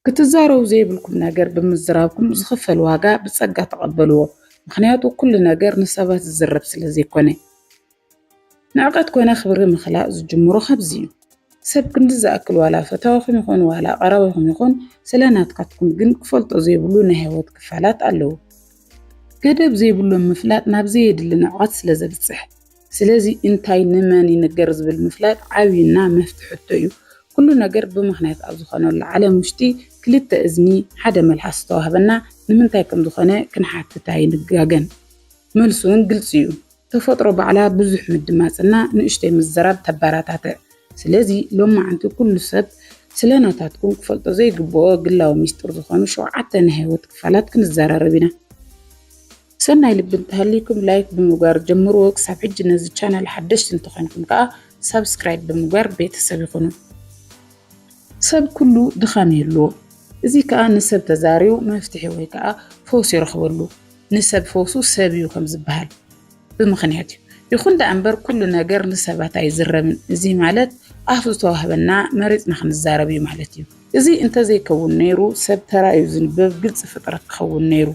ክትዛረቡ ዘይብልኩም ነገር ብምዝራብኩም ዝኽፈል ዋጋ ብጸጋ ተቐበልዎ፣ ምኽንያቱ ኩሉ ነገር ንሰባት ዝዝረብ ስለ ዘይኮነ። ንዕቀት ኮነ ክብሪ ምኽላእ ዝጅምሮ ካብዚ እዩ። ሰብ ክንዲ ዝኣክል ዋላ ፈታዊኹም ይኹን ዋላ ቀራቢኹም ይኹን ስለ ናትካትኩም ግን ክፈልጦ ዘይብሉ ናይ ህይወት ክፋላት ኣለዉ። ገደብ ዘይብሎም ምፍላጥ ናብ ዘየድሊ ንዕቀት ስለ ዘብጽሕ። ስለዚ እንታይ ንመን ይንገር ዝብል ምፍላጥ ዓብይና መፍቲ ሕቶ እዩ። ኩሉ ነገር ብምኽንያት ኣብ ዝኾነሉ ዓለም ውሽጢ ክልተ እዝኒ ሓደ መልሓስ ዝተዋህበና ንምንታይ ከም ዝኾነ ክንሓትት ኣይንጋገን። መልሱ እውን ግልፂ እዩ። ተፈጥሮ ባዕላ ብዙሕ ምድማፅ እና ንእሽተይ ምዝራብ ተበራታትዕ። ስለዚ ሎማዓንቲ ኩሉ ሰብ ስለ ናታትኩም ክፈልጦ ዘይግበኦ ግላዊ ሚስጥር ዝኾኑ ሸውዓተ ናይ ህይወት ክፋላት ክንዘራረብ ኢና። ሰናይ ልቢ እንተሃልይኩም ላይክ ብምግባር ጀምርዎ። ክሳብ ሕጂ ነዚ ቻናል ሓደሽቲ እንተኾይንኩም ከኣ ሳብስክራይብ ብምግባር ቤተሰብ ይኹኑ። ሰብ ኩሉ ድኻም ይህልዎ። እዚ ከኣ ንሰብ ተዛርዩ መፍትሒ ወይ ከኣ ፈውሲ ይረኽበሉ። ንሰብ ፈውሱ ሰብ እዩ ከም ዝበሃል ብምኽንያት እዩ። ይኹን ደኣ እምበር ኩሉ ነገር ንሰባት ኣይዝረብን። እዚ ማለት ኣፍ ዝተዋህበና መሪጽና ክንዛረብ እዩ ማለት እዩ። እዚ እንተዘይከውን ነይሩ ሰብ ተራእዩ ዝንበብ ግልጺ ፍጥረት ክኸውን ነይሩ።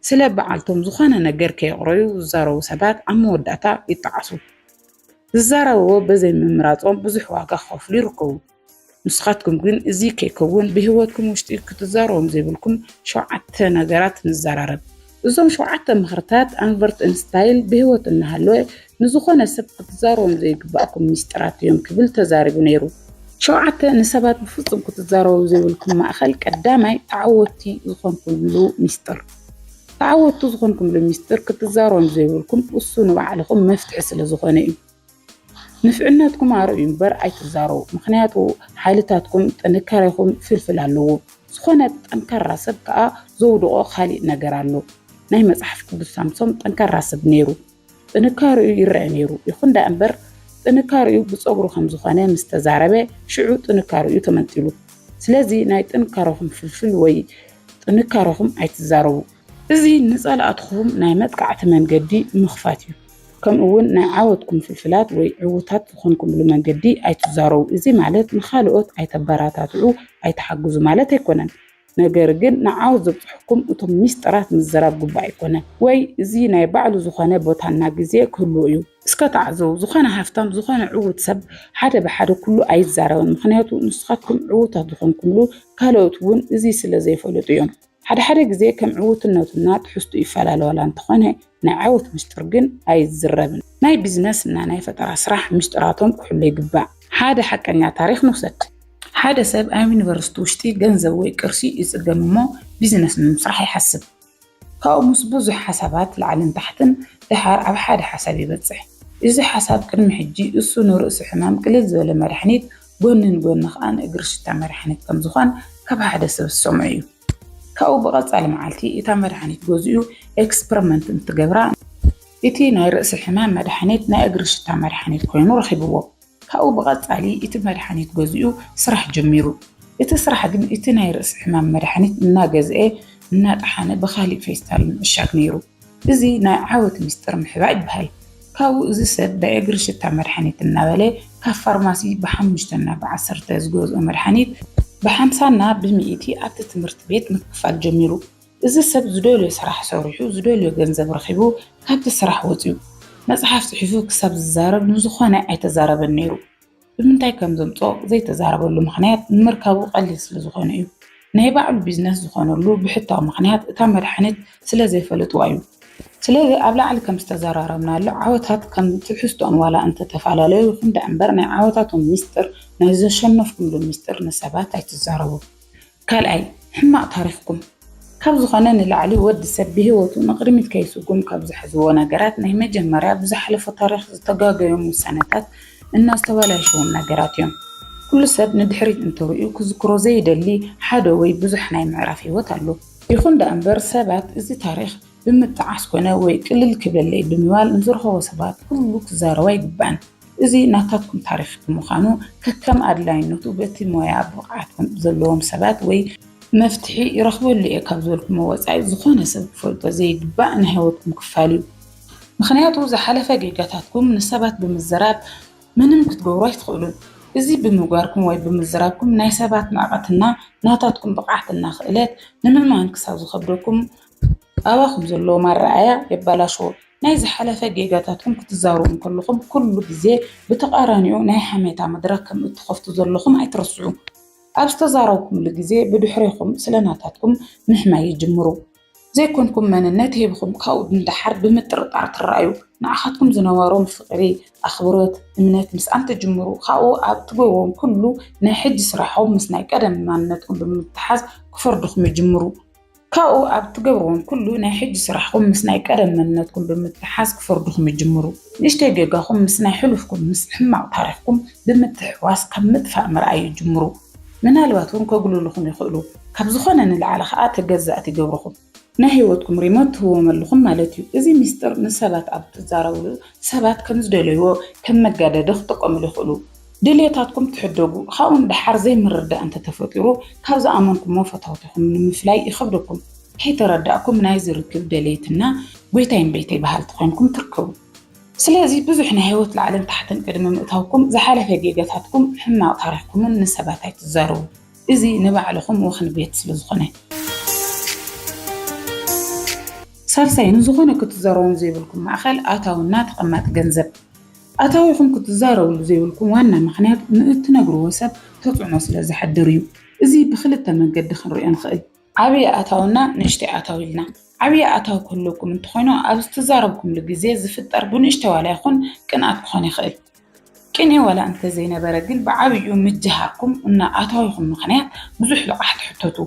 ስለ በዓልቶም ዝኾነ ነገር ከየቕረዩ ዝዛረቡ ሰባት ኣብ መወዳእታ ይጠዓሱ። ዝዛረብዎ በዘይ ምምራጾም ብዙሕ ዋጋ ክኸፍሉ ይርከቡ። ንስኻትኩም ግን እዚ ከይከውን ብህይወትኩም ውሽጢ ክትዛረቦም ዘይብልኩም ሸውዓተ ነገራት ንዘራረብ። እዞም ሸውዓተ ምኽርታት ኣልበርት እንስታይል ብህይወት እናሃለወ ንዝኾነ ሰብ ክትዛረቦም ዘይግባእኩም ሚስጥራት እዮም ክብል ተዛሪቡ ነይሩ። ሸውዓተ ንሰባት ብፍጹም ክትዛረቡ ዘይብልኩም ማእኸል ቀዳማይ ተዓወትቲ ዝኾንኩምሉ ሚስጥር ተዓወትቲ ዝኾንኩምሉ ሚስጥር ክትዛረቦም ዘይብልኩም እሱ ንባዕልኹም መፍትሒ ስለ ዝኾነ እዩ። ንፍዕነትኩም ኣርእዩ እምበር ኣይትዛረቡ። ምክንያቱ ሓይልታትኩም ጥንካሬኹም ፍልፍል ኣለዎ። ዝኾነ ጠንካራ ሰብ ከዓ ዘውድቖ ካሊእ ነገር ኣሎ። ናይ መፅሓፍ ቅዱስ ሳምሶም ጠንካራ ሰብ ነይሩ። ጥንካርኡ ይረኣ ነይሩ። ይኹን ደኣ እምበር ጥንካርኡ ብጸጉሩ ከም ዝኾነ ምስ ተዛረበ ሽዑ ጥንካርኡ ተመንጢሉ። ስለዚ ናይ ጥንካረኹም ፍልፍል ወይ ጥንካረኹም ኣይትዛረቡ። እዚ ንጸላእትኹም ናይ መጥቃዕቲ መንገዲ ምኽፋት እዩ። ከምኡ ውን ናይ ዓወትኩም ፍልፍላት ወይ ዕውታት ዝኾንኩምሉ መንገዲ ኣይትዛረቡ። እዚ ማለት ንኻልኦት ኣይተበራታትዑ፣ ኣይትሓግዙ ማለት ኣይኮነን። ነገር ግን ንዓው ዘብጽሕኩም እቶም ሚስጥራት ምዘራብ ግቡእ ኣይኮነን ወይ እዚ ናይ ባዕሉ ዝኾነ ቦታና ግዜ ክህልዎ እዩ። እስከ ተዓዘቡ ዝኾነ ሃፍታም ዝኾነ ዕዉት ሰብ ሓደ ብሓደ ኩሉ ኣይዛረብን ምኽንያቱ ንስኻትኩም ዕዉታት ዝኾንኩምሉ ካልኦት እውን እዚ ስለ ዘይፈለጡ እዮም። ሓደ ሓደ ግዜ ከም ዕዉትነቱና ትሕዝትኡ ይፈላለ ዋላ እንተኾነ ናይ ዓወት ምስጢር ግን ኣይዝረብን። ናይ ቢዝነስ እና ናይ ፈጠራ ስራሕ ምስጢራቶም ክሕሎ ይግባእ። ሓደ ሓቀኛ ታሪኽ ንውሰድ። ሓደ ሰብ ኣብ ዩኒቨርሲቲ ውሽጢ ገንዘብ ወይ ቅርሺ ይፅገም እሞ ቢዝነስ ንምስራሕ ይሓስብ። ካብኡ ምስ ብዙሕ ሓሳባት ላዕልን ታሕትን ደሓር ኣብ ሓደ ሓሳብ ይበፅሕ። እዚ ሓሳብ ቅድሚ ሕጂ እሱ ንርእሲ ሕማም ቅልል ዝበለ መድሓኒት ጎኒ ንጎኒ ከዓ ንእግሪ ሽታ መድሓኒት ከምዝኾን ካብ ሓደ ሰብ ዝሰምዖ እዩ። ካብኡ ብቐጻሊ መዓልቲ እታ መድሓኒት ገዚኡ ኤክስፐርመንት እንትገብራ እቲ ናይ ርእሲ ሕማም መድሓኒት ናይ እግሪ ሽታ መድሓኒት ኮይኑ ረኺብዎ። ካብኡ ብቐጻሊ እቲ መድሓኒት ገዚኡ ስራሕ ጀሚሩ። እቲ ስራሕ ግን እቲ ናይ ርእሲ ሕማም መድሓኒት እናገዝኤ እናጠሓነ ብኻሊእ ፌስታል ምዕሻግ ነይሩ። እዚ ናይ ዓወት ሚስጥር ምሕባእ ይበሃል። ካብኡ እዚ ሰብ ብእግሪ ሽታ መድሓኒት እናበለ ካብ ፋርማሲ ብሓሙሽተና ብዓሰርተ ዝገዝኦ መድሓኒት ብሓምሳና ብሚኢቲ ኣብቲ ትምህርቲ ቤት ምክፋል ጀሚሩ። እዚ ሰብ ዝደልዮ ስራሕ ሰሪሑ ዝደልዮ ገንዘብ ረኺቡ ካብቲ ስራሕ ወፂኡ መፅሓፍ ፅሒፉ ክሳብ ዝዛረብ ንዝኾነ ኣይተዛረበን ነይሩ። ብምንታይ ከም ዘምፅኦ ዘይተዛረበሉ ምኽንያት ንምርካቡ ቀሊል ስለ ዝኾነ እዩ። ናይ ባዕሉ ቢዝነስ ዝኾነሉ ብሕታዊ ምኽንያት እታ መድሓኒት ስለ ዘይፈለጥዋ እዩ። ስለዚ ኣብ ላዕሊ ከም ዝተዘራረብናሉ ዓወታት ከም ትሕዝትኦም ዋላ እንተተፈላለዩ ይኹን ደኣምበር ናይ ዓወታቶም ሚስጥር ናይ ዘሸነፍኩምሉ ሚስጥር ንሰባት ኣይትዛረቡ። ካልኣይ ሕማቅ ታሪኽኩም ካብ ዝኾነ ንላዕሊ ወዲ ሰብ ብሂወቱ ንቅድሚት ከይስጉም ካብ ዝሕዝዎ ነገራት ናይ መጀመርያ ብዝሓለፎ ታሪኽ ዝተጋገዮም ውሳነታት እና ዝተባላሸዎም ነገራት እዮም። ኩሉ ሰብ ንድሕሪት እንተሪኡ ክዝክሮ ዘይደሊ ሓደ ወይ ብዙሕ ናይ ምዕራፍ ሂወት ኣሎ። ይኹን ደኣ እምበር ሰባት እዚ ታሪኽ ብምጥዓስ ኮነ ወይ ቅልል ክብለለይ ብምባል ንዝረኸቦ ሰባት ኩሉ ክዛረቦ ኣይግባእን። እዚ ናታትኩም ታሪኽ ብምዃኑ ከከም ኣድላይነቱ በቲ ሞያ ብቕዓት ዘለዎም ሰባት ወይ መፍትሒ ይረኽበሉ እየ ካብ ዝበልኩሞ ወፃኢ ዝኾነ ሰብ ክፈልጦ ዘይግባእ ናይ ህይወትኩም ክፋል እዩ። ምኽንያቱ ዝሓለፈ ጌጋታትኩም ንሰባት ብምዝራብ ምንም ክትገብሩ ኣይትኽእሉን። እዚ ብምግባርኩም ወይ ብምዝራብኩም ናይ ሰባት ንዕቐትና ናታትኩም ብቕዓትና ክእለት ንምእማን ክሳብ ዝኸብደኩም ኣባ ከም ዘለዎም ኣረኣእያ የበላሽዎ። ናይ ዝሓለፈ ጌጋታትኩም ክትዛረቡ እንከለኹም ኩሉ ግዜ ብተቓራኒኡ ናይ ሓሜታ መድረኽ ከም እትኸፍቱ ዘለኹም ኣይትረስዑ። ኣብ ዝተዛረብኩምሉ ግዜ ብድሕሬኹም ስለ ናታትኩም ምሕማይ ይጅምሩ። ዘይኮንኩም መንነት ሂብኹም ካብኡ ንደሓር ብምጥርጣር ትረኣዩ። ንዓኻትኩም ዝነበሮም ፍቕሪ፣ ኣኽብሮት፣ እምነት ምስኣን ትጅምሩ። ካብኡ ኣብ እትገብርዎም ኩሉ ናይ ሕጂ ስራሕኹም ምስ ናይ ቀደም ማንነትኩም ብምትሓዝ ክፈርድኹም ይጅምሩ። ካብኡ ኣብ እትገብርዎም ኩሉ ናይ ሕጂ ስራሕኹም ምስ ናይ ቀደም መንነትኩም ብምትሕሓዝ ክፈርዱኹም ይጅምሩ። ንእሽተይ ጌጋኹም ምስ ናይ ሕሉፍኩም ምስ ሕማቕ ታሪኽኩም ብምትሕዋስ ካብ ምጥፋእ ምርኣይ ይጅምሩ። ምናልባት እውን ከጉልሉኹም ይኽእሉ። ካብ ዝኾነ ንላዕሊ ከኣ ተገዛእቲ ይገብሩኹም። ናይ ህይወትኩም ሪሞት ትህብዎም ኣለኹም ማለት እዩ። እዚ ሚስጥር ንሰባት ኣብ እትዛረብሉ ሰባት ከም ዝደለይዎ ከም መጋደዲ ክጥቀምሉ ይኽእሉ። ድልየታትኩም ትሕደጉ፣ ካብኡ ንደሓር ዘይምርድዳእ እንተተፈጢሩ ካብ ዝኣመንኩሞ ፈተውትኹም ንምፍላይ ይኸብደኩም፣ ከይተረዳእኩም ናይዚ ርክብ ደለይትና ጎይታይ እምበይተይ በሃልቲ ኮይንኩም ትርከቡ። ስለዚ ብዙሕ ናይ ህይወት ላዕልን ታሕትን ቅድሚ ምእታውኩም ዝሓለፈ ጌጋታትኩም ሕማቕ ታሪኽኩምን ንሰባት ኣይትዛረቡ፣ እዚ ንባዕልኹም ወኽኒ ቤት ስለዝኾነ። ሳልሳይ ንዝኾነ ክትዛረቦም ዘይብልኩም ማእኸል ኣታዊ እና ተቐማጢ ገንዘብ። ኣታዊኹም ክትዛረብሉ ዘይብልኩም ዋና ምኽንያት ንእትነግርዎ ሰብ ተፅዕኖ ስለ ዘሕድር እዩ። እዚ ብኽልተ መንገዲ ክንሪኦ ንኽእል። ዓብዪ ኣታዊና ንእሽተይ ኣታዊ ኢልና። ዓብዪ ኣታዊ ክህልወኩም እንተኾይኑ ኣብ ዝተዛረብኩምሉ ግዜ ዝፍጠር ብንእሽተይ ዋላ ይኹን ቅንኣት ክኾን ይኽእል። ቅንኢ ዋላ እንተዘይነበረ ግን ብዓብይኡ ምጅሃርኩም እና ኣታዊኹም ምኽንያት ብዙሕ ልቓሕ ትሕተቱ።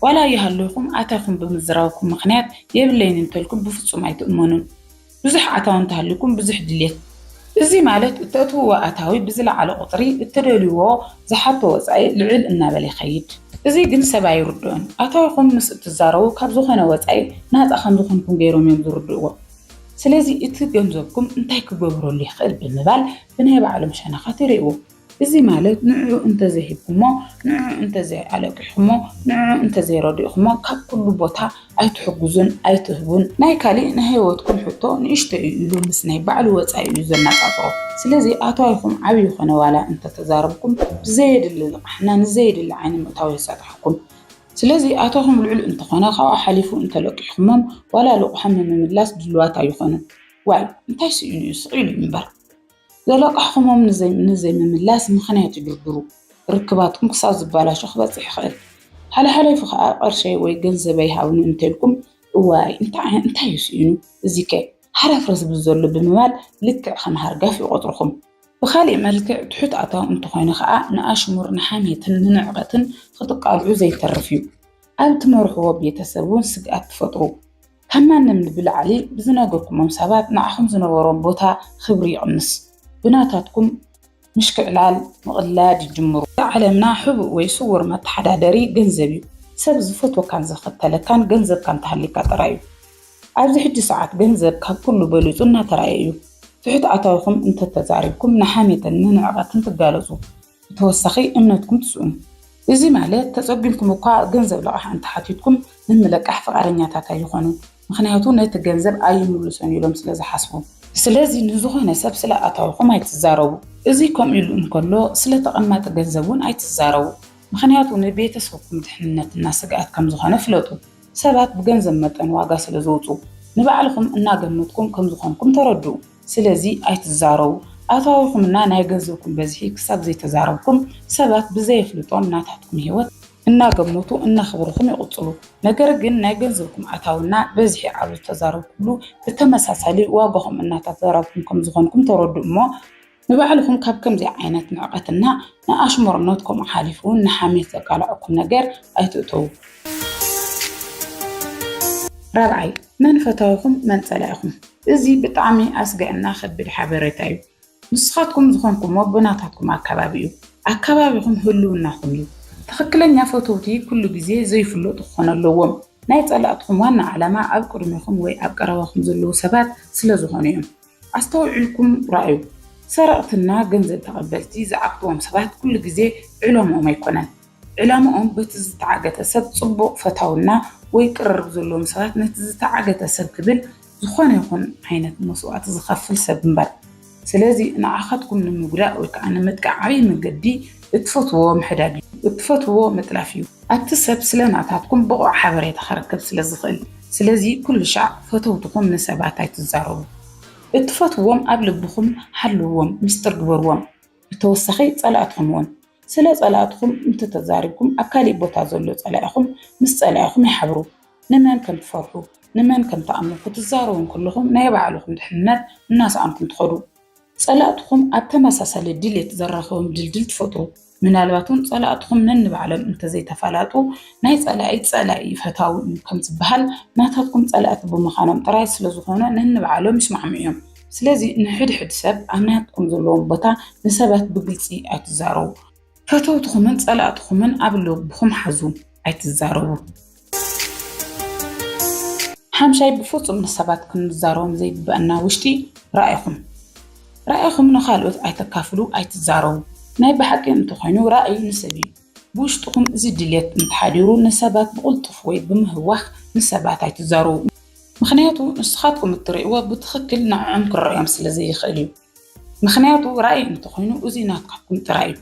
ዋላ ይሃልኹም ኣታዊኹም ብምዝራብኩም ምኽንያት የብለይን እንተልኩም ብፍፁም ኣይትእመኑን። ብዙሕ ኣታዊ እንተሃልዩኩም ብዙሕ ድሌት እዚ ማለት እተእትውዎ ኣታዊ ብዝለዓለ ቁፅሪ እትደልዩዎ ዝሓቶ ወፃኢ ልዕል እናበለ ይኸይድ። እዚ ግን ሰብ ኣይርድኦን። ኣታዊኹም ምስ እትዛረቡ ካብ ዝኾነ ወፃኢ ናፃ ከምዝኾንኩም ገይሮም እዮም ዝርድእዎ። ስለዚ እቲ ገንዘብኩም እንታይ ክገብረሉ ይኽእል ብምባል ብናይ ባዕሎም ሸነኻት ይሪእዎ። እዚ ማለት ንዕዑ እንተዘይሂብኩሞ፣ ንዕዑ እንተዘይኣለቂሕኩሞ፣ ንዕዑ እንተዘይረዲእኩሞ ካብ ኩሉ ቦታ ኣይትሕግዙን፣ ኣይትህቡን፣ ናይ ካሊእ ናይ ህይወትኩም ሕቶ ንእሽቶ እዩ ኢሉ ምስ ናይ ባዕሉ ወፃኢ እዩ ዘነፃፅሮ። ስለዚ ኣታዊኹም ዓብዪ ይኹን ዋላ እንተተዛረብኩም ብዘየድሊ ልቓሕና ንዘየድሊ ዓይኒ ምእታው የሳጥሓኩም። ስለዚ ኣታዊኹም ልዑል እንተኾነ ካብኡ ሓሊፉ እንተለቂሕኩሞም ዋላ ልቑሖም ንምምላስ ድሉዋት ኣይኾኑን። ዋይ እንታይ ስኢኑ እዩ ስቕ ኢሉ እምበር። ዘለቃሕኹሞም ንዘይምምላስ ምኽንያት ይድርድሩ፣ ርክባትኩም ክሳብ ዝበላሾ ክበጽሕ ይኽእል። ሓልሓሊፉ ኸኣ ቅርሸይ ወይ ገንዘበይ ሃቡኒ እንተልኩም፣ እዋይ እንታይ'ዩ ስኢኑ እዚ'ከ ሃረፍረፍ ዝብል ዘሎ ብምባል ልክዕ ከም ሃርጋፍ ይቖጽሩኹም። ብኻልእ መልክዕ ትሑት ኣታዊ እንተኾይኑ ኸኣ ንኣሽሙር፣ ንሓሜትን ንንዕቀትን ክትቃልዑ ዘይተርፍ'ዩ። ኣብ ትመርሕዎ ቤተሰብ'ውን ስግኣት ትፈጥሩ። ካብ ማንም ብላዕሊ ብዝነገርኩሞም ሰባት ንዓኹም ዝነበሮም ቦታ ክብሪ ይቕንስ። ብናታትኩም ምሽክዕላል ምቕላድ ይጅምሩ። ኣብ ዓለምና ሕቡእ ወይ ስዉር መተሓዳደሪ ገንዘብ እዩ። ሰብ ዝፈትወካን ዝኸተለካን ገንዘብካ እንተሃልዩካ ጥራይ እዩ። ኣብዚ ሕጂ ሰዓት ገንዘብ ካብ ኩሉ በሊጹ እናተራእየ እዩ። ትሑት ኣታዊኹም እንተተዛሪብኩም ንሓሜትን ንንዕቐትን ትጋለጹ። ብተወሳኺ እምነትኩም ትስእኑ። እዚ ማለት ተጸጊምኩም እኳ ገንዘብ ልቓሕ እንተ ሓቲትኩም ንምልቃሕ ፍቓደኛታት ኣይኾኑን፣ ምኽንያቱ ነቲ ገንዘብ ኣይምልሶን ኢሎም ስለ ዝሓስቡ። ስለዚ ንዝኾነ ሰብ ስለ ኣታዊኹም ኣይትዛረቡ። እዚ ከምኡ ኢሉ እንከሎ ስለ ተቐማጢ ገንዘብ እውን ኣይትዛረቡ፣ ምኽንያቱ ንቤተሰብኩም ድሕንነት እና ስግኣት ከም ዝኾነ ፍለጡ። ሰባት ብገንዘብ መጠን ዋጋ ስለ ዘውጽኡ፣ ንባዕልኹም እናገመትኩም ከም ዝኾንኩም ተረድኡ። ስለዚ ኣይትዛረቡ ኣታዊኹም እና ናይ ገንዘብኩም በዝሒ ክሳብ ዘይተዛረብኩም ሰባት ብዘየፍልጦም ናታትኩም ሂወት እናገመቱ እናኽብርኹም ይቕፅሉ ነገር ግን ናይ ገንዘብኩም ኣታዊ እና በዝሒ ኣብ ዝተዛረብኩምሉ ብተመሳሳሊ ዋጋኹም እናታተዛረብኩም ከምዝኾንኩም ተረድኡ እሞ ንባዕልኹም ካብ ከምዚ ዓይነት ንዕቐት እና ንኣሽሙርነት ከምኡ ሓሊፉ እውን ንሓሜት ዘቃልዐኩም ነገር ኣይትእተዉ። ራብዓይ መን ፈታዊኹም መን ፀላኢኹም እዚ ብጣዕሚ ኣስጋእና ከብድ ሓበረታ እዩ ንስካትኩም ዝኮንኩም ኣቦ ናታትኩም ኣካባቢ እዩ ኣካባቢኩም ህልውናኩም እዩ ትክክለኛ ፈተውቲ ኩሉ ግዜ ዘይፍለጡ ክኮኑ ኣለዎም ናይ ፀላእትኩም ዋና ዓላማ ኣብ ቅድሜኩም ወይ ኣብ ቀረባኩም ዘለው ሰባት ስለ ዝኮኑ እዮም ኣስተውዒልኩም ራኣዩ ሰረቅትና ገንዘብ ተቀበልቲ ዝዓግትዎም ሰባት ኩሉ ግዜ ዕለምኦም ኣይኮነን ዕላማኦም በቲ ዝተዓገተ ሰብ ጽቡቕ ፈታውና ወይ ቅርርብ ዘለዎም ሰባት ነቲ ዝተዓገተ ሰብ ክብል ዝኾነ ይኹን ዓይነት መስዋእቲ ዝኸፍል ሰብ እምበር ስለዚ ንዓኻትኩም ንምጉዳእ ወይ ከኣ ንምጥቃዕ ዓብይ መንገዲ እትፈትውዎ ምሕዳግ እዩ እትፈትውዎ ምጥላፍ እዩ ኣቲ ሰብ ስለ ናታትኩም ብቑዕ ሓበሬታ ክረክብ ስለ ዝኽእል ስለዚ ኩሉሻዕ ፈተውትኹም ንሰባት ኣይትዛረቡ እትፈትውዎም ኣብ ልብኹም ሓልውዎም ምስጢር ግበርዎም። ብተወሳኺ ፀላእትኹም እውን ስለ ፀላእትኹም እንተተዛሪብኩም ኣብ ካሊእ ቦታ ዘሎ ፀላኢኹም ምስ ፀላኢኹም ይሓብሩ። ንመን ከም ትፈርሑ ንመን ከም ትኣምኑ ክትዛረቡ እንክለኹም ናይ ባዕልኹም ድሕንነት እናሰኣንኩም ትኸዱ። ፀላእትኹም ኣብ ተመሳሳሊ ድሌት ዘራኽቦም ድልድል ትፈጥሩ። ምናልባት እውን ፀላእትኹም ነንባዕሎም እንተዘይተፋላጡ ናይ ፀላኢ ፀላኢ እዩ ፈታዊ እዩ ከም ዝበሃል ናታትኩም ፀላእቲ ብምዃኖም ጥራይ ስለዝኾኑ ነንባዕሎም ይስማዕምዑ እዮም። ስለዚ ንሕድሕድ ሰብ ኣብ ናትኩም ዘለዎም ቦታ ንሰባት ብግልፂ ኣይትዛረቡ። ፈተውትኹምን ፀላእትኹምን ኣብ ልብኹም ሓዙ፣ ኣይትዛረቡ። ሓምሻይ ብፍፁም ንሰባት ክንዛረቦም ዘይግበአና ውሽጢ ራእይኹም ራእይኹም ንኻልኦት ኣይተካፍሉ፣ ኣይትዛረቡ። ናይ ብሓቂ እንተኾይኑ ራእይ ንስብ እዩ። ብውሽጥኹም እዚ ድሌት እንተሓዲሩ ንሰባት ብቕልጡፍ ወይ ብምህዋኽ ንሰባት ኣይትዛረቡ። ምኽንያቱ ንስኻትኩም እትርእይዎ ብትኽክል ንዕዖም ክረኣዮም ስለዘይኽእል እዩ። ምኽንያቱ ራእይ እንተኾይኑ እዚ ናትካትኩም ጥራይ እዩ።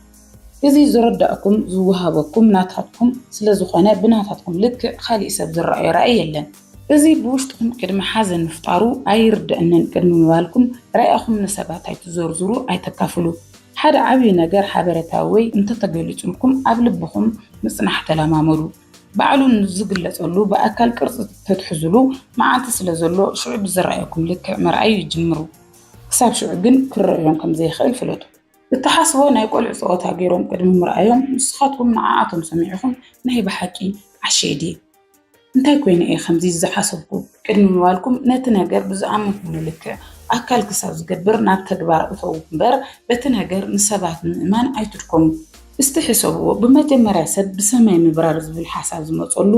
እዚ ዝርዳእኩም ዝወሃበኩም ናታትኩም ስለዝኾነ ብናታትኩም ልክዕ ካሊእ ሰብ ዝረኣዮ ራእይ የለን። እዚ ብውሽጥኹም ቅድሚ ሓዘን ምፍጣሩ ኣይርደኣንን ቅድሚ ምባልኩም ራእኹም ንሰባት ኣይትዘርዝሩ ኣይተካፍሉ። ሓደ ዓብዪ ነገር ሓበረታ ወይ እንተተገሊጹልኩም ኣብ ልብኹም ምጽናሕ ተለማመዱ። ባዕሉ ንዝግለጸሉ ብኣካል ቅርጺ ተትሕዙሉ መዓልቲ ስለ ዘሎ ሽዑ ብዝረኣየኩም ልክዕ ምርኣይ ጅምሩ። ክሳብ ሽዑ ግን ክረኣዮም ከም ዘይክእል ፍለጡ። እትሓስብዎ ናይ ቆልዑ ጸወታ ገይሮም ቅድሚ ምርኣዮም ንስኻትኩም ንዓኣቶም ሰሚዕኹም ናይ ብሓቂ ዓሸ'የ ድየ? እንታይ ኮይነ እየ ከምዚ ዝሓሰብኩ ቅድሚ ምባልኩም ነቲ ነገር ብዝኣመንኩምሉ ልክዕ ኣካል ክሳብ ዝገብር ናብ ተግባር እተዉ እምበር በቲ ነገር ንሰባት ንምእማን ኣይትድከሙ። እስቲ ሕሰብዎ ብመጀመርያ ሰብ ብሰማይ ምብራር ዝብል ሓሳብ ዝመፀሉ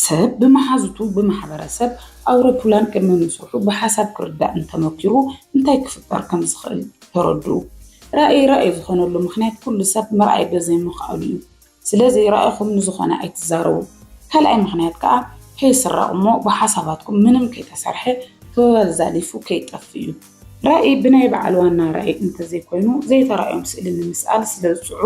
ሰብ ብመሓዙቱ ብማሕበረሰብ ኣዉሮፑላን ቅድሚ ምስርሑ ብሓሳብ ክርዳእ እንተመኪሩ እንታይ ክፍጠር ከም ዝኽእል ተረድኡ። ራእይ ራእይ ዝኾነሉ ምኽንያት ኩሉ ሰብ ምርኣይ በዘይምኽኣሉ እዩ። ስለ ዘይረኣኹም ንዝኾነ ኣይትዛረቡ። ካልኣይ ምኽንያት ከኣ ከይስረቕ እሞ ብሓሳባትኩም ምንም ከይተሰርሐ ክበበል ዛሊፉ ከይጠፍ እዩ። ራኢ ብናይ በዓል ዋና ራኢ እንተዘይኮይኑ ዘይተራእዮም ስእሊ ንምስኣል ስለ ዝጽዕሩ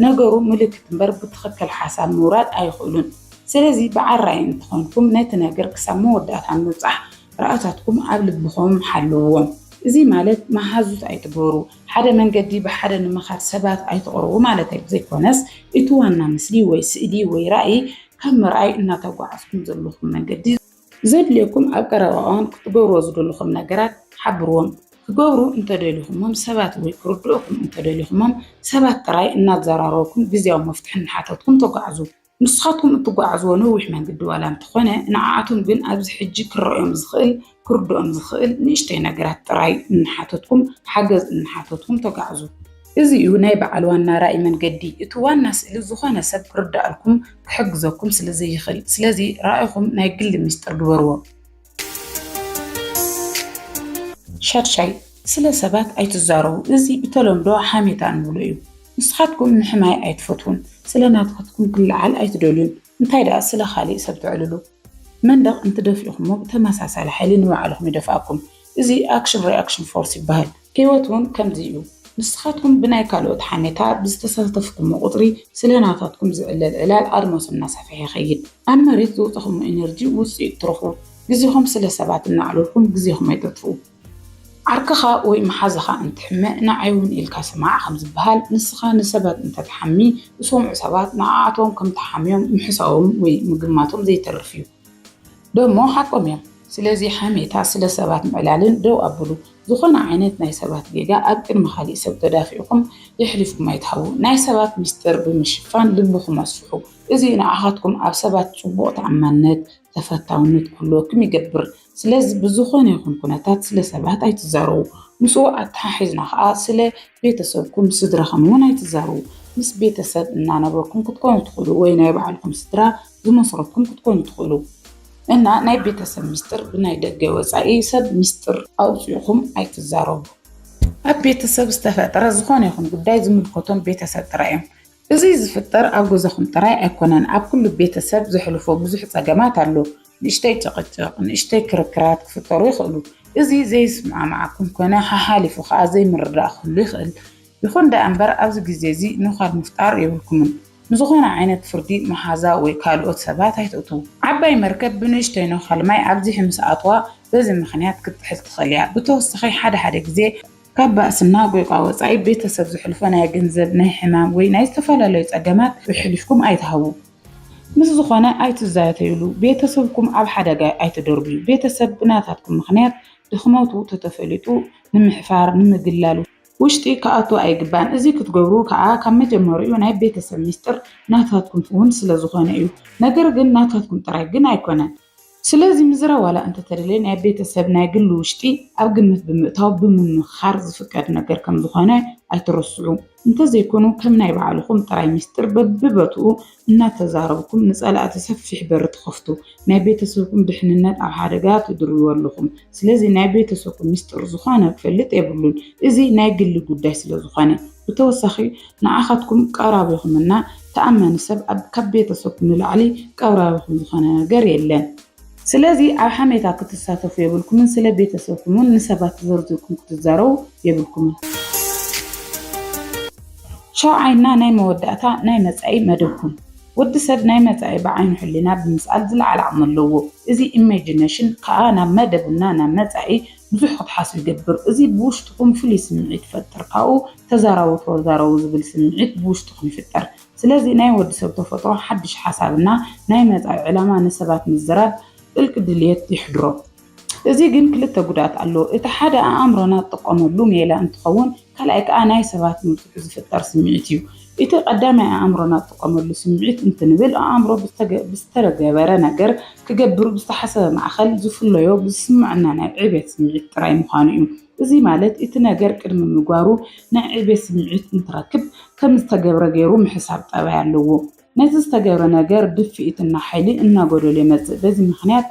ነገሩ ምልክት እምበር ብትኽክል ሓሳብ ምውራድ ኣይኽእሉን። ስለዚ በዓል ራኢ እንተኾንኩም ነቲ ነገር ክሳብ መወዳእታ ምብጻሕ ራእታትኩም ኣብ ልብኹም ሓልውዎም። እዚ ማለት መሃዙት ኣይትግበሩ። ሓደ መንገዲ ብሓደ ንምኻድ ሰባት ኣይተቕርቡ ማለተይ ዘይኮነስ እቲ ዋና ምስሊ ወይ ስእሊ ወይ ራእይ ካብ ምርኣይ እናተጓዓዝኩም ዘለኹም መንገዲ ዘድልየኩም ኣብ ቀረባ እዋን ክትገብርዎ ዝደለኹም ነገራት ሓብርዎም። ክገብሩ እንተደሊኹሞም ሰባት ወይ ክርድኡኹም እንተደሊኹሞም ሰባት ጥራይ እናዘራረብኩም ግዝያዊ መፍትሒ እናሓተትኩም ተጓዓዙ። ንስኻትኩም እትጓዓዝዎ ነዊሕ መንግዲ ዋላ እንተኾነ ንዓኣቶም ግን ኣብዚ ሕጂ ክረኦም ዝኽእል ክርድኦም ዝኽእል ንእሽተይ ነገራት ጥራይ እናሓተትኩም ሓገዝ እናሓተትኩም ተጋዕዙ። እዚ እዩ ናይ በዓል ዋና ራኢ መንገዲ እቲ ዋና ስእሊ ዝኾነ ሰብ ክርደኣልኩም ክሕግዘኩም ስለ ዘይኽእል ስለዚ ራኢኹም ናይ ግሊ ሚስጥር ግበርዎ። ሻድሻይ፣ ስለ ሰባት ኣይትዛረቡ፣ እዚ ብተለምዶ ሓሜታ እንብሎ እዩ። ንስኻትኩም ምሕማይ ኣይትፈትዉን፣ ስለ ናትካትኩም ክለዓል ኣይትደልዩን፣ እንታይ ደኣ ስለ ካልእ ሰብ ተዕልሉ። መንደቕ እንትደፍኢኹሞ ብተመሳሳሊ ሓይሊ ንባዕልኹም ይደፍኣኩም። እዚ ኣክሽን ሪኣክሽን ፎርስ ይበሃል። ህይወት እውን ከምዚ እዩ። ንስኻትኩም ብናይ ካልኦት ሓሜታ ብዝተሳተፍኩሞ ቁጽሪ ስለ ናታትኩም ዝዕለል ዕላል ኣድማሱ እናሰፍሐ ይኸይድ። ኣብ መሬት ዘውጸኹሞ ኢነርጂ ውጽኢት ትረኽቡ። ግዜኹም ስለ ሰባት እናዕለልኩም ግዜኹም ኣይተጥፍኡ። ዓርክኻ ወይ መሓዛኻ እንትሕመ ንዓይ እውን ኢልካ ስማዕ ከም ዝበሃል ንስኻ ንሰባት እንተትሓሚ ዝሰምዑ ሰባት ንዓኣቶም ከም ተሓምዮም ምሕሳቦም ወይ ምግማቶም ዘይተርፍ እዩ። ደሞ ሓቆም እዮም ስለዚ ሓሜታ ስለ ሰባት ምዕላልን ደው ኣብሉ ዝኮነ ዓይነት ናይ ሰባት ጌጋ ኣብ ቅድሚ ካሊእ ሰብ ተዳፊዕኩም የሕሊፍኩም ኣይትሃቡ ናይ ሰባት ሚስጥር ብምሽፋን ልብኩም ኣስፍሑ እዚ ንዓካትኩም ኣብ ሰባት ጽቡቅ ተኣማንነት ተፈታውነት ክህልወኩም ይገብር ስለዚ ብዝኾነ ይኹን ኩነታት ስለ ሰባት ኣይትዛረቡ፣ ምስኡ ኣተሓሒዝና ከኣ ስለ ቤተሰብኩም ምስ ስድራኹም እውን ኣይትዛረቡ። ምስ ቤተሰብ እናነበርኩም ክትኮኑ ትኽእሉ ወይ ናይ ባዕልኹም ስድራ ዝመስረትኩም ክትኮኑ ትኽእሉ። እና ናይ ቤተሰብ ምስጢር ብናይ ደገ ወጻኢ ሰብ ምስጢር ኣውጺእኹም ኣይትዛረቡ። ኣብ ቤተሰብ ዝተፈጥረ ዝኾነ ይኹን ጉዳይ ዝምልከቶም ቤተሰብ ጥራይ እዮም። እዚ ዝፍጠር ኣብ ገዛኹም ጥራይ ኣይኮነን፣ ኣብ ኩሉ ቤተሰብ ዘሕልፎ ብዙሕ ጸገማት ኣሎ። ንእሽተይ ጭቕጭቕ፣ ንእሽተይ ክርክራት ክፍጠሩ ይኽእሉ። እዚ ዘይስምዕምዓኩም ኮነ ሓሓሊፉ ከኣ ዘይምርድዳእ ክህሉ ይኽእል። ይኹን ደኣ እምበር ኣብዚ ግዜ እዚ ኑካል ምፍጣር የብልኩምን። ንዝኾነ ዓይነት ፍርዲ መሓዛ ወይ ካልኦት ሰባት ኣይተእትዉ። ዓባይ መርከብ ብንእሽተይ ኑካል ማይ ኣብዚሒ ምስ ኣትዋ በዚ ምኽንያት ክትጥሕል ትኽእል እያ። ብተወሳኺ ሓደ ሓደ ግዜ ካብ ባእስና ጎይቋ ወጻኢ ቤተሰብ ዝሕልፎ ናይ ገንዘብ፣ ናይ ሕማም ወይ ናይ ዝተፈላለዩ ጸገማት ኣሕሊፍኩም ኣይትሃቡ። ምስ ዝኾነ ኣይትዛተዩሉ፣ ቤተሰብኩም ኣብ ሓደጋ ኣይትደርብዩ። ቤተሰብ ብናታትኩም ምኽንያት ድኽመቱ ተተፈሊጡ ንምሕፋር፣ ንምግላል፣ ውሽጢ ክኣቱ ኣይግባእን እዚ ክትገብሩ ክኣ ካብ መጀመርኡ ናይ ቤተሰብ ሚስጥር ናታትኩም ውን ስለዝኾነ እዩ። ነገር ግን ናታትኩም ጥራይ ግን ኣይኮነን። ስለዚ ምዝራብ ዋላ እንተተደልየ ናይ ቤተሰብ ናይ ግሊ ውሽጢ ኣብ ግምት ብምእታው ብምምኽኻር ዝፍቀድ ነገር ከም ዝኾነ ኣይትረስዑ። እንተዘይኮኑ ከም ናይ ባዕልኹም ጥራይ ሚስጢር በቢበትኡ እናተዛረብኩም ንፀላእቲ ሰፊሕ በሪ ትኸፍቱ። ናይ ቤተሰብኩም ድሕንነት ኣብ ሓደጋ ትድርብዎ ኣለኹም። ስለዚ ናይ ቤተሰብኩም ሚስጢር ዝኾነ ክፈልጥ የብሉን። እዚ ናይ ግሊ ጉዳይ ስለዝኾነ። ብተወሳኺ ንዓኻትኩም ቀራቢኹም እና ተኣማኒ ሰብ ኣብ ካብ ቤተሰብኩም ንላዕሊ ቀብራቢኹም ዝኾነ ነገር የለን። ስለዚ ኣብ ሓሜታ ክትሳተፉ የብልኩምን ስለ ቤተሰብኩም ውን ንሰባት ዘርዚርኩም ክትዛረቡ የብልኩምን። ሻውዓይ እና ናይ መወዳእታ ናይ መጻኢ መደብኩም ወዲ ሰብ ናይ መጻኢ ብዓይኑ ሕሊና ብምስኣል ዝለዓለ ዓቕሚ ኣለዎ። እዚ ኢሜጂነሽን ከኣ ናብ መደብ እና ናብ መጻኢ ብዙሕ ክትሓስብ ይገብር። እዚ ብውሽጥኹም ፍሉይ ስምዒት ይፈጥር። ካብኡ ተዛረቡ ተወዛረቡ ዝብል ስምዒት ብውሽጥኹም ይፍጠር። ስለዚ ናይ ወዲ ሰብ ተፈጥሮ ሓድሽ ሓሳብ እና ናይ መጻኢ ዕላማ ንሰባት ምዝራብ ጥልቂ ድልየት የሕድሮ። እዚ ግን ክልተ ጉድኣት ኣለዎ። እቲ ሓደ ኣኣምሮና ዝጥቀመሉ ሜላ እንትኸውን፣ ካልኣይ ከኣ ናይ ሰባት ምብዝሑ ዝፍጠር ስምዒት እዩ። እቲ ቀዳማይ ኣእምሮና ዝጥቀመሉ ስምዒት እንትንብል ኣእምሮ ብዝተገበረ ነገር ክገብር ብዝተሓሰበ ማእኸል ዝፍለዮ ብዝስመዐና ናይ ዕቤት ስምዒት ጥራይ ምዃኑ እዩ። እዚ ማለት እቲ ነገር ቅድሚ ምግባሩ ናይ ዕቤት ስምዒት እንትረክብ ከምዝተገብረ ገይሩ ምሕሳብ ጠባይ ኣለዎ። ነዚ ዝተገብረ ነገር ድፍኢትና ሓይሊ እናጎደሎ ይመፅእ በዚ ምኽንያት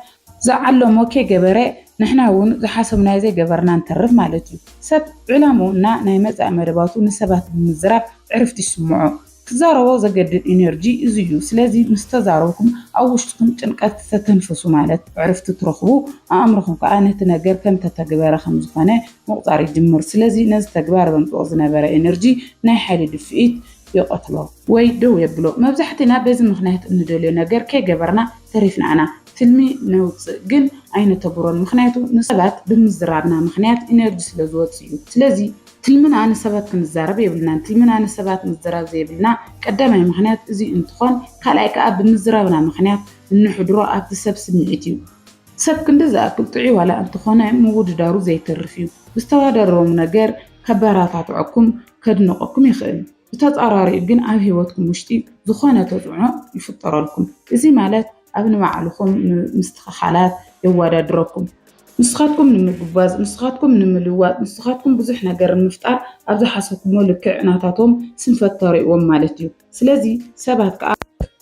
ዝዓለሞ ከይገበረ ንሕና እውን ዝሓሰብናዮ ዘይገበርና ንተርፍ ማለት እዩ። ሰብ ዕላምኡ እና ናይ መፃኢ መደባቱ ንሰባት ብምዝራብ ዕርፍቲ ይስምዖ። ክዛረቦ ዘገድድ ኢነርጂ እዚ እዩ። ስለዚ ምስ ተዛረብኩም ኣብ ውሽጥኹም ጭንቀት ተተንፍሱ ማለት ዕርፍቲ ትረኽቡ ኣእምሮኹም ከዓ ነቲ ነገር ከም ተተግበረ ከም ዝኾነ ምቑፃር ይጅምር። ስለዚ ነዚ ተግባር ዘምፅኦ ዝነበረ ኢነርጂ ናይ ሓይሊ ድፍኢት ይቐትሎ ወይ ደው የብሎ መብዛሕቲና በዚ ምኽንያት እንደልዮ ነገር ከይገበርና ተሪፍና ኢና ትልሚ ነውጽእ ግን ኣይነተግብሮን ምኽንያቱ ንሰባት ብምዝራብና ምኽንያት ኢነርጂ ስለ ዝወጽእ እዩ ስለዚ ትልምና ንሰባት ክንዛረብ የብልናን ትልምና ንሰባት ምዝራብ ዘይብልና ቀዳማይ ምኽንያት እዚ እንትኾን ካልኣይ ከኣ ብምዝራብና ምኽንያት እንሕድሮ ኣብቲ ሰብ ስምዒት እዩ ሰብ ክንዲ ዝኣክል ጥዑይ ዋላ እንተኾነ ምውድዳሩ ዘይተርፍ እዩ ብዝተዋዳደሮም ነገር ከባራታትዐኩም ከድንቐኩም ይኽእል። ብተጻራሪኡ ግን ኣብ ህይወትኩም ውሽጢ ዝኾነ ተጽዕኖ ይፍጠረልኩም። እዚ ማለት ኣብ ንባዕልኹም ምስትኽኻላት የዋዳድረኩም። ንስኻትኩም ንምጉባዝ፣ ንስኻትኩም ንምልዋጥ፣ ንስኻትኩም ብዙሕ ነገር ንምፍጣር ኣብ ዝሓሰብኩሞ ልክዕ ናታቶም ስንፈት ተርእዎም ማለት እዩ። ስለዚ ሰባት ከኣ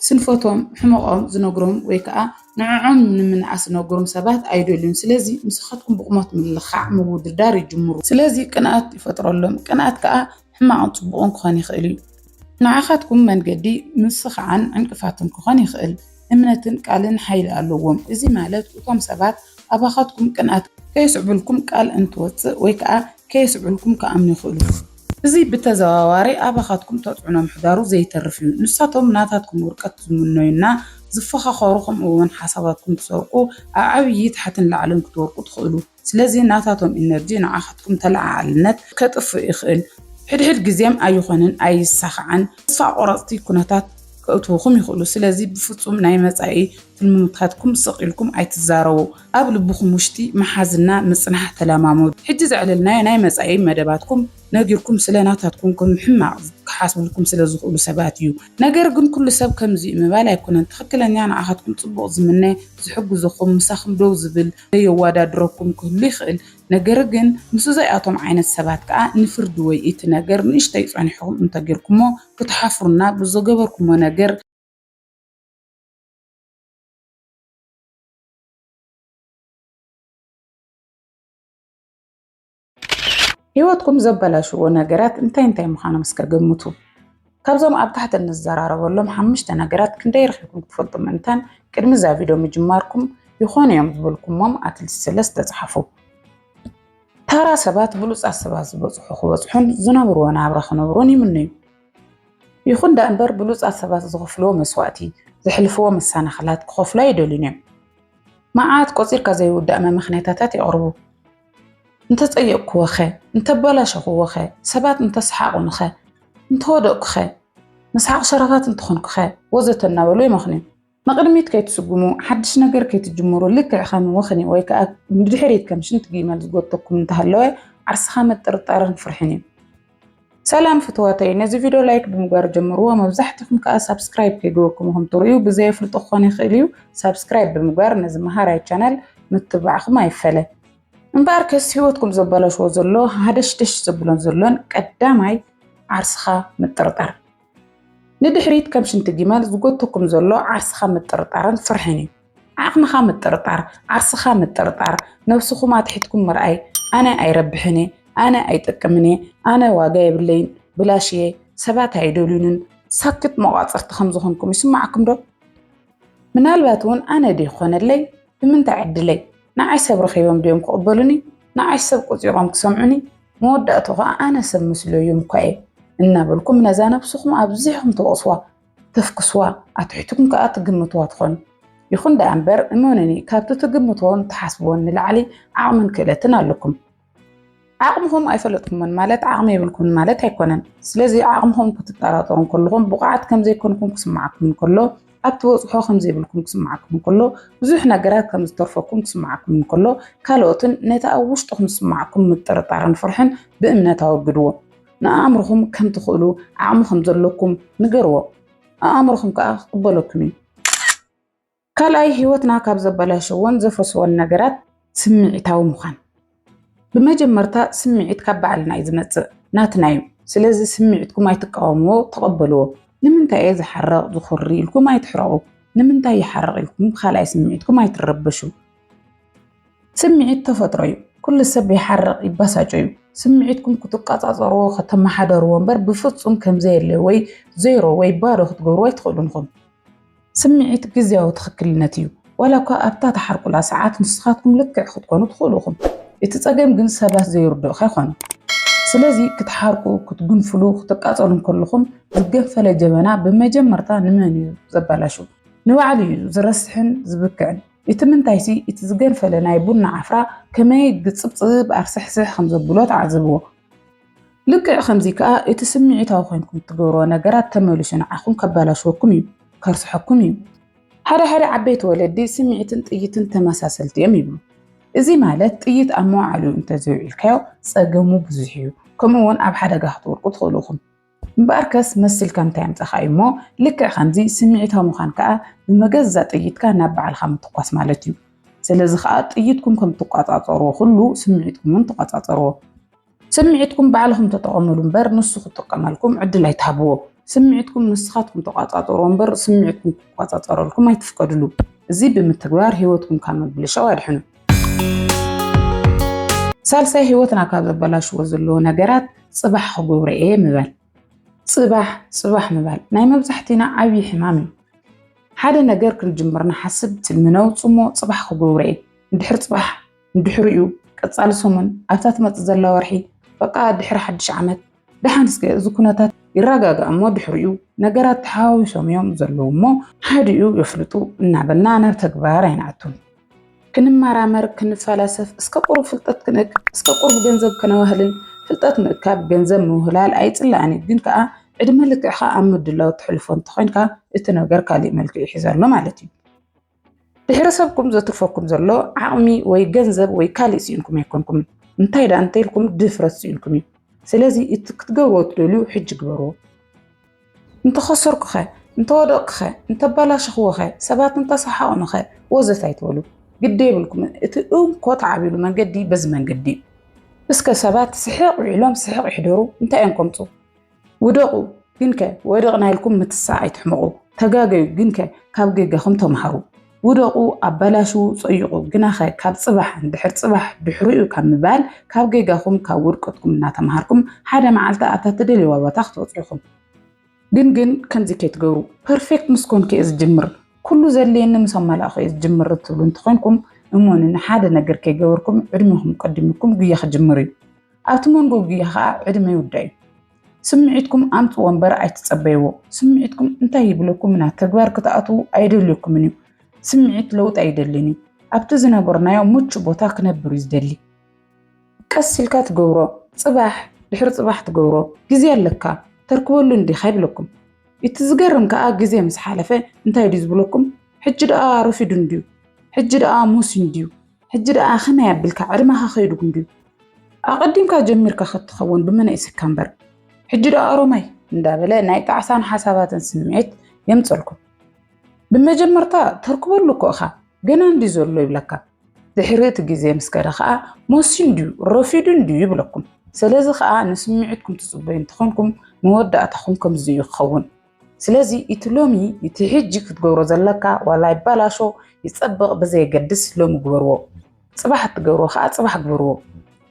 ስንፈቶም ሕመቆም ዝነግሮም ወይ ከኣ ንዕዖም ንምንኣስ ዝነግሮም ሰባት ኣይደልዩን ስለዚ ምሳኻትኩም ብቁሞት ምልኻዕ ምውድዳር ይጅምሩ ስለዚ ቅንኣት ይፈጥረሎም ቅንኣት ከኣ ሕማቅን ጽቡቅን ክኾን ይኽእል እዩ ንዓኻትኩም መንገዲ ምስኻዕን ዕንቅፋትን ክኾን ይኽእል እምነትን ቃልን ሓይሊ ኣለዎም። እዚ ማለት እቶም ሰባት ኣባኻትኩም ቅንኣት ከየስዕቡልኩም ቃል እንትወጽእ ወይ ከኣ ከየስዕቡልኩም ክኣምኑ ይኽእሉ እዮም። እዚ ብተዘዋዋሪ ኣባኻትኩም ተጽዕኖ ምሕዳሩ ዘይተርፍ እዩ። ንሳቶም ናታትኩም ውድቀት ዝምነዩና፣ ዝፈኻኸሩ ከምኡ'ውን ሓሳባትኩም ዝሰርቁ ኣብ ዓብዪ ታሕትን ላዕልን ክትወድቁ ትኽእሉ። ስለዚ ናታቶም ኢነርጂ ንዓኻትኩም ተለዓዓልነት ከጥፍእ ይኽእል። ሕድሕድ ግዜም ኣይኾንን ኣይሳኻዕን ተስፋ ቆረጽቲ ኩነታት ከእትውኹም ይኽእሉ። ስለዚ ብፍጹም ናይ መጻኢ ትልምታትኩም ስቕ ኢልኩም ኣይትዛረቡ። ኣብ ልብኹም ውሽቲ ምሓዝና ምጽናሕ ተለማመዱ። ሕጂ ዘዕለልናዮ ናይ መጻኢ መደባትኩም ነጊርኩም ስለ ናታትኩም ከም ሕማቕ ክሓስብልኩም ስለ ዝኽእሉ ሰባት እዩ። ነገር ግን ኩሉ ሰብ ከምዚ እዩ ምባል ኣይኮነን ትኽክለኛ ንዓኻትኩም ጽቡቕ ዝምነ፣ ዝሕግዝኹም፣ ምሳኹም ደው ዝብል፣ ዘየዋዳድረኩም ክህሉ ይኽእል ነገር ግን ምስ እዘይኣቶም ዓይነት ሰባት ከኣ ንፍርዲ ወይ እቲ ነገር ንእሽተይ ጸኒሕኹም እንተጌርኩሞ ክትሓፍሩና ብዘገበርኩሞ ነገር ህይወትኩም ዘበላሽዎ ነገራት እንታይ እንታይ ምዃኖም እስከ ገምቱ። ካብዞም ኣብ ታሕቲ እንዘራረበሎም ሓሙሽተ ነገራት ክንደይ ረኺብኩም ትፈልጡ ምእንታን ቅድሚ እዛ ቪድዮ ምጅማርኩም ይኾኑ እዮም ዝበልኩሞም ኣትሊስት ሰለስተ ጸሓፉ። ታራ ሰባት ብሉጻት ሰባት ዝበጽሑ ክበጽሑን ዝነብርዎ ናብራ ክነብሩን ይምነዩ። ይኹን ደኣ እምበር ብሉጻት ሰባት ዝኽፍልዎ መስዋእቲ፣ ዘሕልፍዎ መሰናኽላት ክኸፍሉ ኣይደልዩን እዮም። መዓት ቆጺርካ ዘይውዳእ መመኽነያታታት የቕርቡ። እንተጸየቕኩዎኸ? እንተበላሸኹዎኸ? ሰባት እንተሰሓቑንኸ? እንተወደቕኩኸ? መስሓቕ ሸራፋት እንተኾንኩኸ? ወዘተ እናበሉ ይመኽኑዩ። ንቕድሚት ከይትስጉሙ፣ ሓድሽ ነገር ከይትጅምሩ ልክዕ ከም ወኽኒ ወይ ከኣ ንድሕሪት ከም ሽንቲ ጊመል ዝጎተኩም እንተሃለወ ዓርስኻ ምጥርጣርን ፍርሕን እዩ። ሰላም ፍትዋተይ ነዚ ቪድዮ ላይክ ብምግባር ጀምርዎ መብዛሕትኹም ከዓ ሳብስክራይብ ከይገበርኩም ኹም ትርእዩ ብዘየፍልጦ ክኾን ይኽእል እዩ ሳብስክራይብ ብምግባር ነዚ መሃራይ ቻናል ምትብባዕኹም ኣይፈለ እምበኣር ከስ ህይወትኩም ዘበላሽዎ ዘሎ ሃደሽደሽ ዘብሎን ዘሎን ቀዳማይ ዓርስኻ ምጥርጣር ንድሕሪት ከም ሽንቲ ጊመል ዝጎትተኩም ዘሎ ዓርስኻ ምጥርጣርን ፍርሕን እዩ። ዓቕምኻ ምጥርጣር፣ ዓርስኻ ምጥርጣር፣ ነብስኹም ኣትሒትኩም ምርኣይ፣ ኣነ ኣይረብሕን እየ፣ ኣነ ኣይጠቅምን እየ፣ ኣነ ዋጋ የብለይን፣ ብላሽ እየ፣ ሰባት ኣይደልዩንን፣ ሳክት መቋጽርቲ ከም ዝኾንኩም ይስማዓኩም ዶ? ምናልባት እውን ኣነ ድዩ ክኾነለይ ብምንታይ ዕድለይ ንዓይ ሰብ ረኺቦም ድዮም ክቕበሉኒ ንዓይ ሰብ ቆጺሮም ክሰምዑኒ መወዳእትኡ ከዓ ኣነ ሰብ ምስሉ እዩ እኳ እየ እናበልኩም ነዛ ነብስኹም ኣብዚሕኹም ተወቕስዋ ተፍክስዋ ኣትሒትኩም ከዓ ትግምትዋ ትኾኑ ይኹን ደኣ እምበር እመኑኒ ካብቲ ትግምትዎን ትሓስብዎን ንላዕሊ ዓቕምን ክእለትን ኣለኩም ዓቕምኹም ኣይፈለጥኩምን ማለት ዓቕሚ የብልኩምን ማለት ኣይኮነን ስለዚ ዓቕምኹም ክትጠራጠሩ ከለኹም ብቑዓት ከምዘይኮንኩም ክስማዓኩም ከሎ ኣብ ትበጽሖ ከም ዘይብልኩም ክስምዓኩም እንከሎ፣ ብዙሕ ነገራት ከም ዝተርፈኩም ክስምዓኩም እንከሎ፣ ካልኦትን ነቲ ኣብ ውሽጥኹም ዝስምዓኩም ምጥርጣርን ፍርሕን ብእምነት ኣወግድዎ። ንኣእምሮኹም ከም ትኽእሉ፣ ዓቕሚ ከም ዘለኩም ንገርዎ። ኣእምሮኹም ከኣ ክቕበለኩም እዩ። ካልኣይ፣ ህይወትና ካብ ዘበላሸዎን ዘፍርስዎን ነገራት ስምዒታዊ ምዃን። ብመጀመርታ ስምዒት ካብ ባዕልና እዩ ዝመፅእ ናትና እዩ ስለዚ ስምዒትኩም ኣይትቃወምዎ ተቐበልዎ ንምንታይ እየ ዝሓርቕ ዝኹሪ ኢልኩም ኣይትሕረቑ ንምንታይ ይሓርቕ ኢልኩም ብካልኣይ ስምዒትኩም ኣይትረበሹ ስምዒት ተፈጥሮ እዩ ኩሉ ሰብ ይሓርቕ ይባሳጮ እዩ ስምዒትኩም ክትቃፃፀርዎ ከተመሓደርዎ እምበር ብፍፁም ከምዘየለ ወይ ዜሮ ወይ ባዶ ክትገብርዎ ኣይትኽእሉን ኢኹም ስምዒት ግዝያዊ ትኽክልነት እዩ፣ ዋላ እኳ ኣብታ ትሓርቁላ ሰዓት ንስኻትኩም ልክዕ ክትኮኑ ትኽእሉ ኢኹም። እቲ ጸገም ግን ሰባት ዘይርድኡኻ ይኾኑ። ስለዚ ክትሓርቁ፣ ክትጉንፍሉ፣ ክትቃጸሉ እንከለኹም ዝገንፈለ ጀበና ብመጀመርታ ንመን እዩ ዘባላሹ? ንባዕሉ እዩ ዝረስሕን ዝብክዕን። እቲ ምንታይሲ እቲ ዝገንፈለ ናይ ቡና ዓፍራ ከመይ ግጽብጽብ ኣርስሕስሕ ከምዘብሎ ተዓዘብዎ። ልክዕ ከምዚ ከኣ እቲ ስምዒታዊ ኮይንኩም እትገብርዎ ነገራት ተመሊሱ ንዓኹም ከባላሽወኩም እዩ፣ ከርስሐኩም እዩ። ሓደ ሓደ ዓበይቲ ወለዲ ስምዒትን ጥይትን ተመሳሰልቲ እዮም ይብሉ። እዚ ማለት ጥይት ኣብ መውዓሊኡ እንተዘይውዒልካዮ ጸገሙ ብዙሕ እዩ፣ ከምኡ'ውን ኣብ ሓደጋ ክትወድቁ ትኽእሉ ኢኹም። እምበኣርከስ መስልካ እንታይ ኣምጻኻ እዩ እሞ፣ ልክዕ ከምዚ ስምዒታዊ ምዃን ከኣ ብመገዛ ጥይትካ ናብ ባዕልኻ ምትኳስ ማለት እዩ። ስለዚ ከኣ ጥይትኩም ከም እትቆጻጸርዎ ኩሉ ስምዒትኩም'ውን ተቆጻጸርዎ። ስምዒትኩም ባዕልኹም ተጠቐምሉ እምበር ንሱ ክጥቀመልኩም ዕድል ኣይትሃብዎ። ስምዒትኩም ንስኻትኩም ተቋጻጸርዎ እምበር ስምዒትኩም ክቋጻጸረልኩም ኣይትፍቀድሉ። እዚ ብምትግባር ህይወትኩም ካብ ምብልሻው ኣድሕኑ። ሳልሳይ ህይወትና ካብ ዘበላሽዎ ዘለዎ ነገራት ጽባሕ ክገብሮ እየ ምባል። ጽባሕ ጽባሕ ምባል ናይ መብዛሕቲና ዓብዪ ሕማም እዩ። ሓደ ነገር ክንጅምር ንሓስብ፣ ትልሚ ነውጽሞ፣ ጽባሕ ክገብሮ እየ፣ ድሕሪ ጽባሕ ድሕሪኡ ቀፃሊ ሰሙን ኣብታ ትመፅእ ዘላ ወርሒ በቃ ድሕሪ ሓድሽ ዓመት ደሓን እስከ እዚ ኩነታት ይረጋጋእ እሞ ድሕሪኡ ነገራት ተሓዋዊሶም እዮም ዘለዉ እሞ ሓዲኡ የፍልጡ እናበልና ናብ ተግባር ኣይንኣቱን። ክንመራመር፣ ክንፈላሰፍ፣ እስከ ቁሩብ ፍልጠት ክንእክብ፣ እስከ ቁሩብ ገንዘብ ከነዋህልል፣ ፍልጠት ምእካብ፣ ገንዘብ ምውህላል ኣይጽላእን እዩ፣ ግን ከኣ ዕድመ ልክዕካ ኣብ ምድላው ተሕልፎ እንተኾይንካ እቲ ነገር ካሊእ መልክዕ ይሕዝ ኣሎ ማለት እዩ። ብሔረሰብኩም ዘትርፈኩም ዘሎ ዓቕሚ ወይ ገንዘብ ወይ ካሊእ ስኢንኩም ኣይኮንኩም እንታይ ደኣ እንተኢልኩም ድፍረት ስኢንኩም እዩ ስለዚ እቲ ክትገብርዎ ትደልዩ ሕጂ ግበርዎ እንተኸሰርኩኸ እንተወደቕኩኸ እንተባላሸኽዎኸ ሰባት እንተሰሓቕኑኸ ወዘት ኣይትበሉ ግዲ የብልኩም እቲ እንኮ ተዓብሉ መንገዲ በዚ መንገዲ እዩ እስከ ሰባት ስሕቕ ዊዕሎም ስሕቕ ይሕደሩ እንታይ እዮም ከምፁ ውደቑ ግንከ ወደቕና ኢልኩም ምትሳእ ኣይትሕመቑ፣ ተጋገዩ ግንከ ካብ ጌጋኹም ተምሃሩ። ውደቑ ኣባላሽዉ ጸይቑ ግናኸ ካብ ጽባሕን ድሕር ጽባሕ ድሕሪኡ ካብ ምባል ካብ ጌጋኹም ካብ ውድቀትኩም እናተምሃርኩም ሓደ መዓልቲ ኣብታ ትደልይዋ ቦታ ክትበጽሑ ኢኹም። ግን ግን ከምዚ ከይትገብሩ ፐርፌክት ምስ ኮንኩ እየ ዝጅምር ኩሉ ዘድልየኒ ምስ ኣማላእኹ እየ ዝጅምር እትብሉ እንተኾይንኩም እመኑኒ ሓደ ነገር ከይገበርኩም ዕድሜኹም ቀዲሙኩም ጉያ ክጅምር እዩ። ኣብቲ መንጎ ጉያ ከዓ ዕድመ ይውዳዩ። ስምዒትኩም ኣምፅዎ እምበር ኣይትፀበይዎ። ስምዒትኩም እንታይ ይብለኩም ናብ ተግባር ክትኣትዉ ኣይደልየኩምን እዩ። ስምዒት ለውጢ ኣይደልን እዩ። ኣብቲ ዝነበርናዮ ምቹ ቦታ ክነብር እዩ ዝደሊ። ቀስ ኢልካ ትገብሮ፣ ፅባሕ ድሕሪ ፅባሕ ትገብሮ፣ ግዜ ኣለካ ተርክበሉ እንዲኻ ይብለኩም። እቲ ዝገርም ከዓ ግዜ ምስ ሓለፈ እንታይ ድዩ ዝብለኩም ሕጂ ደኣ ረፊዱ እንድዩ፣ ሕጂ ደኣ ሞስዩ እንድዩ፣ ሕጂ ደኣ ከመይ ኣብልካ ዕድመኻ ከይዱ ክንድዩ ኣቐዲምካ ጀሚርካ ከትኸውን ብመናእስካ እምበር ሕጂ ደኣ ሮማይ እንዳበለ ናይ ጣዕሳን ሓሳባትን ስምዒት የምፀልኩም ብመጀመርታ ተርክበሉ እኮ እኻ ገና እንዲ ዘሎ ይብለካ ድሕሪ እቲ ግዜ ምስ ከደ ከዓ ሞሲ እንድዩ ረፊዱ እንድዩ ይብለኩም ስለዚ ከዓ ንስምዒትኩም ትፅበዩ እንትኾንኩም መወዳእታኹም ከምዚ እዩ ክኸውን ስለዚ እቲ ሎሚ እቲ ሕጂ ክትገብሮ ዘለካ ዋላ ይባላሾ ይጸብቕ ብዘየገድስ ሎሚ ግበርዎ ጽባሕ እትገብሮ ከኣ ጽባሕ ግበርዎ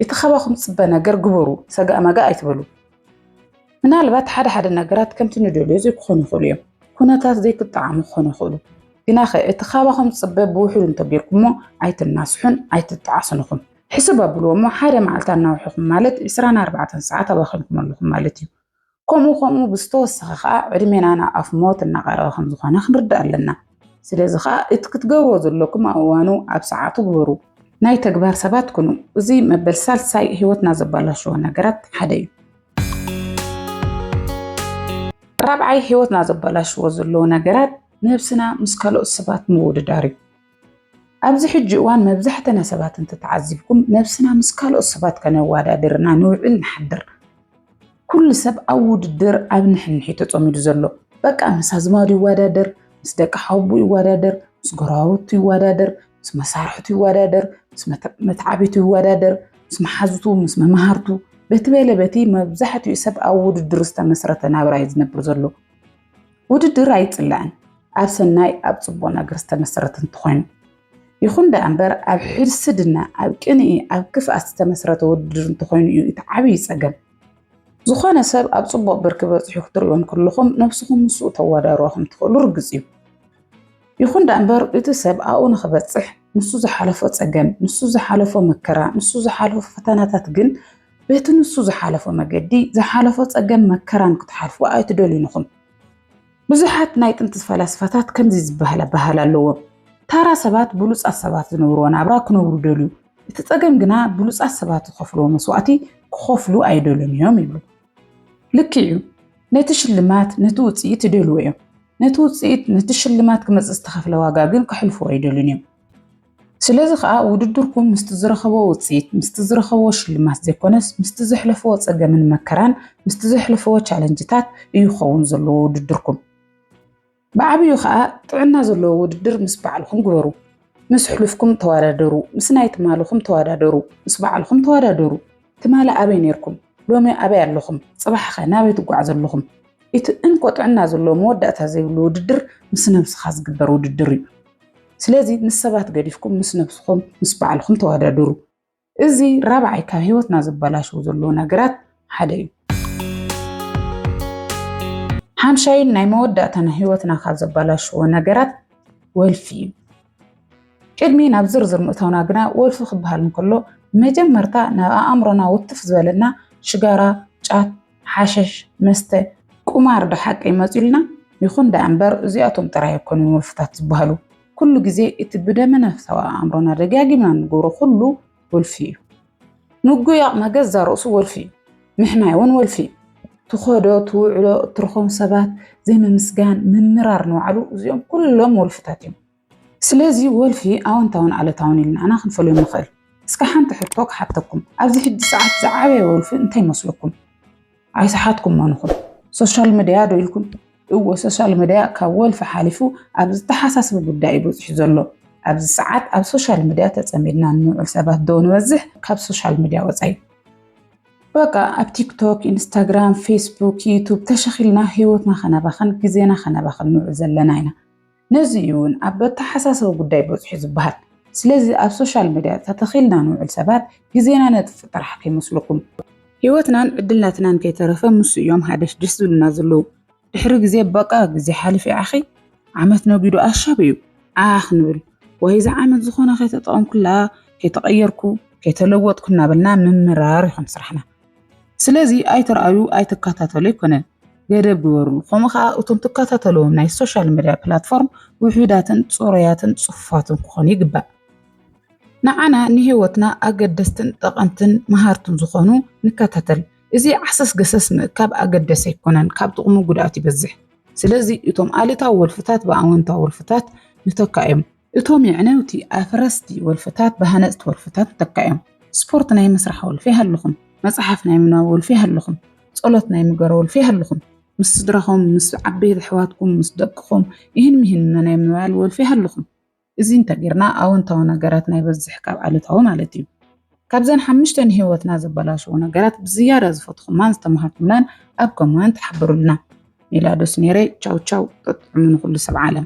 እቲ ካባኹም ዝጽበ ነገር ግበሩ ሰጋእ መጋእ ኣይትበሉ ምናልባት ሓደ ሓደ ነገራት ከምቲ ንደልዮ ዘይክኾኑ ይኽእሉ እዮም ኩነታት ዘይክጠዓሙ ክኾኑ ይኽእሉ ግናኸ እቲ ካባኹም ዝጽበ ብውሕዱ እንተጌርኩሞ ኣይትናስሑን ኣይትጠዓሱን ኢኹም ሕስብ ኣብልዎ እሞ ሓደ መዓልቲ ኣናውሕኹም ማለት 24 ሰዓት ኣባኺንኩም ኣለኹም ማለት እዩ ከምኡ ከምኡ ብዝተወሰኸ ከዓ ዕድሜና ናብ ኣፍ ሞት እናቐረበ ከም ዝኾነ ክንርዳእ ኣለና። ስለዚ ከዓ እቲ ክትገብርዎ ዘለኩም ኣብ እዋኑ ኣብ ሰዓቱ ግበሩ። ናይ ተግባር ሰባት ኩኑ። እዚ መበል ሳልሳይ ህይወትና ዘበላሽዎ ነገራት ሓደ እዩ። ራብዓይ ህይወትና ዘበላሽዎ ዘለዉ ነገራት ነብስና ምስ ካልኦት ሰባት ምውድዳር እዩ። ኣብዚ ሕጂ እዋን መብዛሕተና ሰባት እንተተዓዚብኩም ነብስና ምስ ካልኦት ሰባት ከነዋዳድርና ንውዕል ንሓድር። ኩሉ ሰብ ኣብ ውድድር ኣብ ንሕንሕ እዩ ተጸሚዱ ዘሎ። በቃ ምስ ኣዝማዱ ይወዳደር፣ ምስ ደቂ ሓውቡ ይወዳደር፣ ምስ ጎረባብቱ ይወዳደር፣ ምስ መሳርሕቱ ይወዳደር፣ ምስ መትዓቢቱ ይወዳደር፣ ምስ መሓዙቱ፣ ምስ መማህርቱ በቲ በለ በቲ መብዛሕትኡ ሰብ ኣብ ውድድር ዝተመስረተ ናብራ እዩ ዝነብር ዘሎ። ውድድር ኣይጽላእን ኣብ ሰናይ ኣብ ጽቡቕ ነገር ዝተመሰረተ እንተኾይኑ ይኹን ደኣ እምበር ኣብ ሕድስድና ኣብ ቅንኢ ኣብ ክፍኣት ዝተመስረተ ውድድር እንተኾይኑ እዩ እቲ ዓብዪ ጸገም ዝኾነ ሰብ ኣብ ጽቡቕ ብርኪ በፂሑ ክትሪኦ እንከለኹም ነብስኹም ምስኡ ተወዳድሮ ከም ትኽእሉ ርግፅ እዩ ይኹን ደኣ እምበር እቲ ሰብ ኣብኡ ንኽበፅሕ ንሱ ዝሓለፎ ጸገም ንሱ ዝሓለፎ መከራ ንሱ ዝሓለፎ ፈተናታት ግን በቲ ንሱ ዝሓለፎ መገዲ ዝሓለፎ ጸገም መከራን ክትሓልፉ ኣይትደልዩን ኢኹም። ብዙሓት ናይ ጥንቲ ፈላስፋታት ከምዚ ዝበሃል ኣበሃህላ ኣለዎም። ታራ ሰባት ብሉጻት ሰባት ዝነብርዎ ናብራ ክነብሩ ይደልዩ፣ እቲ ጸገም ግና ብሉጻት ሰባት ዝኸፍልዎ መስዋእቲ ክኸፍሉ ኣይደልዩን እዮም ይብሉ። ልክዕ እዩ፣ ነቲ ሽልማት ነቲ ውጽኢት ይደልዎ እዮም። ነቲ ውጽኢት ነቲ ሽልማት ክመጽእ ዝተኸፍለ ዋጋ ግን ክሕልፍዎ ኣይደልዩን እዮም። ስለዚ ከዓ ውድድርኩም ምስቲ ዝረኸቦ ውፅኢት ምስቲ ዝረኸቦ ሽልማት ዘይኮነስ ምስቲ ዘሕለፈዎ ፀገምን መከራን ምስቲ ዘሕለፈዎ ቻለንጅታት እዩ ክኸውን ዘለዎ ውድድርኩም። ብዓብዩ ከዓ ጥዕና ዘለዎ ውድድር ምስ ባዕልኹም ግበሩ። ምስ ሕሉፍኩም ተወዳደሩ፣ ምስ ናይ ትማልኹም ተወዳደሩ፣ ምስ ባዕልኹም ተወዳደሩ። ትማሊ ኣበይ ኔርኩም ሎሚ ኣበይ ኣለኹም ጽባሕኸ ናበይ ትጓዓዙ ኣለኹም እቲ እንኮ ጥዕና ዘለዎ መወዳእታ ዘይብሉ ውድድር ምስ ነብስኻ ዝግበር ውድድር እዩ ስለዚ ምስ ሰባት ገዲፍኩም ምስ ነብስኹም ምስ ባዕልኹም ተወዳደሩ እዚ ራብዓይ ካብ ህይወትና ዘበላሽው ዘለዎ ነገራት ሓደ እዩ ሓምሻይን ናይ መወዳእታን ህይወትና ካብ ዘበላሽዎ ነገራት ወልፊ እዩ ቅድሚ ናብ ዝርዝር ምእታውና ግና ወልፊ ክበሃል እንከሎ መጀመርታ ናብ ኣእምሮና ውትፍ ዝበለና ሽጋራ፣ ጫት፣ ሓሸሽ፣ መስተ፣ ቁማር ዶ ሓቂ ይመፅኡልና? ይኹን ደኣ እምበር እዚኣቶም ጥራይ ኣይኮኑን ወልፍታት ዝበሃሉ። ኩሉ ግዜ እቲ ብደመነፍሳዊ ኣእምሮና ደጋጊምና እንገብሮ ኩሉ ወልፊ እዩ። ምጉያቕ መገዛ ርእሱ ወልፊ እዩ። ምሕማይ እውን ወልፊ እዩ። ትኸዶ ትውዕሎ እትረኾም ሰባት ዘይምምስጋን ምምራር ንባዕሉ እዚኦም ኩሎም ወልፍታት እዮም። ስለዚ ወልፊ ኣወንታውን ኣለታውን ኢልና ኣና ክንፈልዮም ንኽእል። እስከ ሓንቲ ሕቶ ክሓተኩም፣ ኣብዚ ሕጂ ሰዓት ዝዓበየ ወልፊ እንታይ ይመስለኩም? ኣይሰሓትኩሞን ኢኹም። ሶሻል መድያ ዶ ኢልኩም? እወ ሶሻል መድያ ካብ ወልፊ ሓሊፉ ኣብ ዝተሓሳስብ ጉዳይ እዩ በጺሑ ዘሎ። ኣብዚ ሰዓት ኣብ ሶሻል መድያ ተጸሚድና እንውዕል ሰባት ዶ ንበዝሕ ካብ ሶሻል መድያ ወጻኢ? በቃ ኣብ ቲክቶክ፣ ኢንስታግራም፣ ፌስቡክ፣ ዩቱብ ተሸኺልና ህይወትና ከነባኽን ግዜና ከነባኽን ንውዕል ዘለና ኢና። ነዚ እዩ እውን ኣብ ኣተሓሳሰቢ ጉዳይ በፅሑ ዝበሃል። ስለዚ ኣብ ሶሻል መድያ ተተኺልና ንውዕል ሰባት ግዜና ነጥፍእ ጥራሕ ከይመስለኩም። ህይወትናን ዕድልናትናን ከይተረፈ ምስ እዮም ሃደሽደሽ ዝብሉና ዘለዉ። ድሕሪ ግዜ በቃ ግዜ ሓሊፉ ዓኺ ዓመት ነጊዱ ኣሻብ እዩ ዓዓ ክንብል ወይ እዛ ዓመት ዝኾነ ከይተጠቐምኩላ፣ ከይተቐየርኩ፣ ከይተለወጥኩ እናበልና ምምራር ይኾን ስራሕና። ስለዚ ኣይትርኣዩ ኣይትከታተሉ ኣይኮነን ገደብ ግበርሉ። ከምኡ ከዓ እቶም ትከታተልዎም ናይ ሶሻል ሚድያ ፕላትፎርም ውሑዳትን ፅሩያትን ፅፉፋትን ክኾኑ ይግባእ። ንዓና ንህይወትና ኣገደስትን ጠቐምትን መሃርትን ዝኾኑ ንከታተል። እዚ ዓሰስ ገሰስ ምእካብ ኣገደሲ ኣይኮነን፣ ካብ ጥቕሙ ጉድኣት ይበዝሕ። ስለዚ እቶም ኣሉታዊ ወልፍታት ብኣወንታዊ ወልፍታት ንተካኦም። እቶም የዕነውቲ ኣፍረስቲ ወልፍታት ብሃነጽቲ ወልፍታት ይተካእዮም። ስፖርት ናይ ምስራሕ ወልፊ ይሃልኹም፣ መጽሓፍ ናይ ምንባብ ወልፊ ይሃልኹም፣ ጸሎት ናይ ምግባር ወልፊ ይሃልኹም፣ ምስ ስድራኹም፣ ምስ ዓበይቲ ኣሕዋትኩም፣ ምስ ደቅኹም ኢህን ሚህን ናይ ምባል ወልፊ ይሃልኹም። እዚ እንተ ጌርና ኣወንታዊ ነገራት ናይ በዝሕ ካብ ኣሉታዊ ማለት እዩ። ካብዘን ሓምሽተ ንህይወትና ዘበላሽዎ ነገራት ብዝያዳ ዝፈትኹማን ዝተማሃርኩምላን ኣብ ኮማንት ሓብሩልና። ሜላዶስ ኔሬ ቻው ቻው ጠጥዑሙ ንኹሉ ሰብ ዓለም።